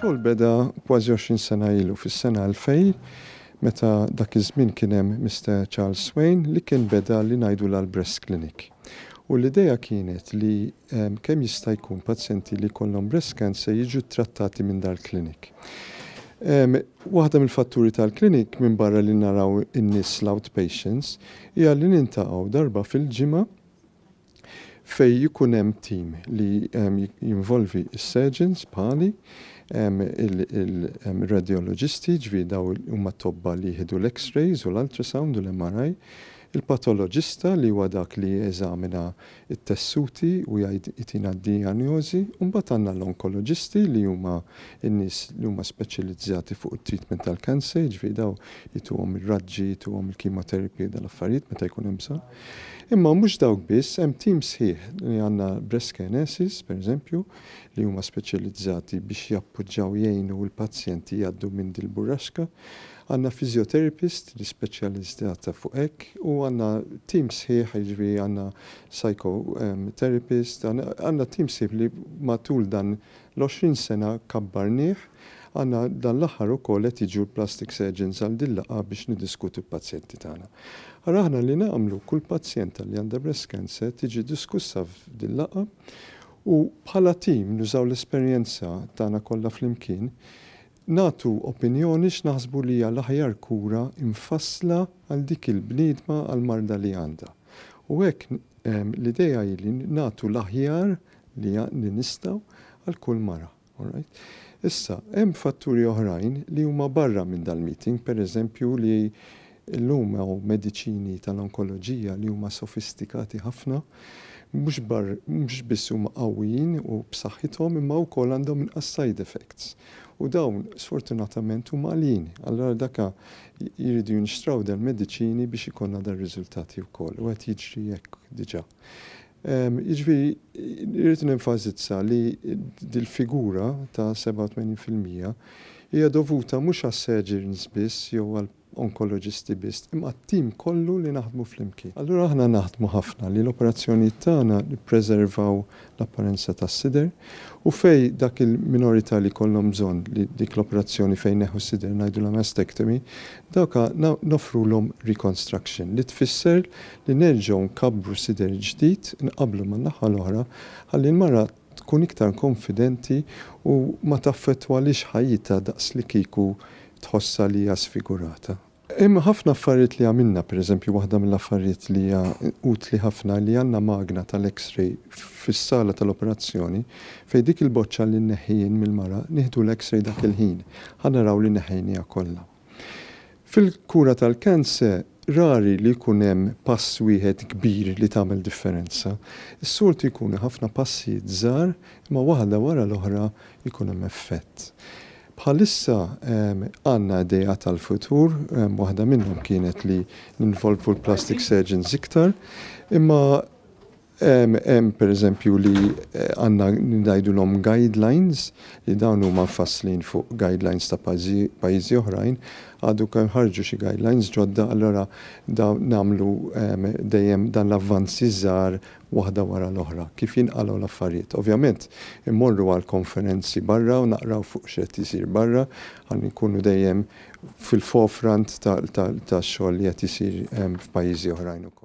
Ix-xogħol beda kważi 20 sena ilu fis-sena 2000 meta dak iż-żmien kien hemm Mister Charles Swain li kien beda li ngħidulha l-breast clinic. U l-idea kienet li kemm jista' jkun pazjenti li jkollhom breast cancer jiġu ttrattati minn dal-clinic. Waħda mill-fatturi tal-clinic minbarra li naraw in-nies l-outpatients hija li niltaqgħu darba fil-ġimgħa Fejn jkun hemm tim li jinvolvi s-surgeons bħali, ir-radjoloġisti, ġifieri daw huma t-tobba li jieħdu l-X-rays u l-ultrasound u l-MRI, il-patoloġista li huwa dak li jeżamina t-tessuti u jgħid jtina d-dijanjożi, u mbagħad għandna l-onkoloġisti li huma n-nies li huma speċjalizzati fuq it-treatment tal-cancer, jiġifieri daw ituhom ir-raġġi, ituhom il-chemotherapy u dal-affarijiet meta jkun hemm bżonn. Imma mhux dawk biss, hemm tim sħiħ li għandna Breskenesis, pereżempju, li huma speċjalizzati biex jappoġġaw jgħinu l-pazjenti jgħaddu minn dil-burraxka. Għandna physiotherapist li speċjalizzata fuq hekk u għandna tim sħiħ, jiġifieri għandna psychotherapist, għandna tim sħiħ li matul dan L-għoxrin sena kabbarnih, għandna dan l-aħħar ukoll qed jiġu l-plastic surgeons għal din l-laqgħa biex niddiskutu l-pazjenti tagħna. Ara aħna li nagħmlu, kull pazjenta li għandha breast cancer tiġi diskussa f'din l-laqgħa u bħala tim nużaw l-esperjenza tagħna kollha flimkien nagħtu opinjoni x'naħsbu li hija l-aħjar kura mfassla għal dik il-bniedma għall-marda li għandha. U hekk l-idea hi li nagħtu l-aħjar li li nistgħu għal kull mara. All right? Issa, hemm fatturi oħrajn li huma barra minn dal-meeting, per eżempju li llum hawn mediċini tal-onkoloġija li huma sofistikati ħafna, mhux mhux biss huma qawwijin u b'saħħithom imma wkoll għandhom inqas side effects. U dawn sfortunatament huma għaljin. Allura għal daka jridu jinxtraw dal-mediċini biex ikollna dar-riżultati wkoll u qed jiġri hekk diġà. Jiġifieri irrid nenfasizza li dil-figura ta' 87 fil-mija hija dovuta mhux għas-surgeons biss jew għall-onkoloġisti biss, imma għat-tim kollu li naħdmu flimkien. Allura aħna naħdmu ħafna li l-operazzjonijiet tagħna nippreservaw l-apparenza tas-sider, u fejn dak il-minorità li jkollhom bżonn li dik l-operazzjoni fejn jneħħu s-sider ngħidulha mastectomy, dawk noffrulhom reconstruction, li tfisser li nerġgħu nkabbru sider ġdid inqabblu man-naħa l-oħra ħalli l-mara tkun iktar konfidenti u ma taffettwalhiex ħajjitha daqs li kieku tħossha li hija sfigurata. Hemm ħafna affarijiet li għamilna, pereżempju waħda mill-affarijiet li hija utli ħafna li għandna magna tal-X-ray fis-sala tal-operazzjoni fejn dik il-boċċa li nneħħi jien mill-mara nieħdu l-X-ray dak il-ħin ħa naraw li neħħejniha kollha. Fil-kura tal-kanse rari li jkun hemm pass wieħed kbir li tagħmel differenza. Is-soltu jkunu ħafna passijiet żgħar imma waħda wara l-oħra jkun hemm effett. Bħalissa għandna ideat għall-futur, waħda minnhom kienet li ninvolvu l-plastic surgeons iktar, imma hemm pereżempju li għandna ngħidulhom guidelines li dawn huma mfasslin fuq guidelines ta' pajjiżi oħrajn, għadu kemm ħarġu xi guidelines ġodda allura dawn nagħmlu dejjem dan l-avvanzi żgħar waħda wara l-oħra, kif jinqalgħu l-affarijiet. Ovvjament, immorru għal konferenzi barra u naqraw fuq x'qed isir barra ħalli nkunu dejjem fil-forefront tax-xogħol li qed isir f'pajjiżi oħrajn ukoll.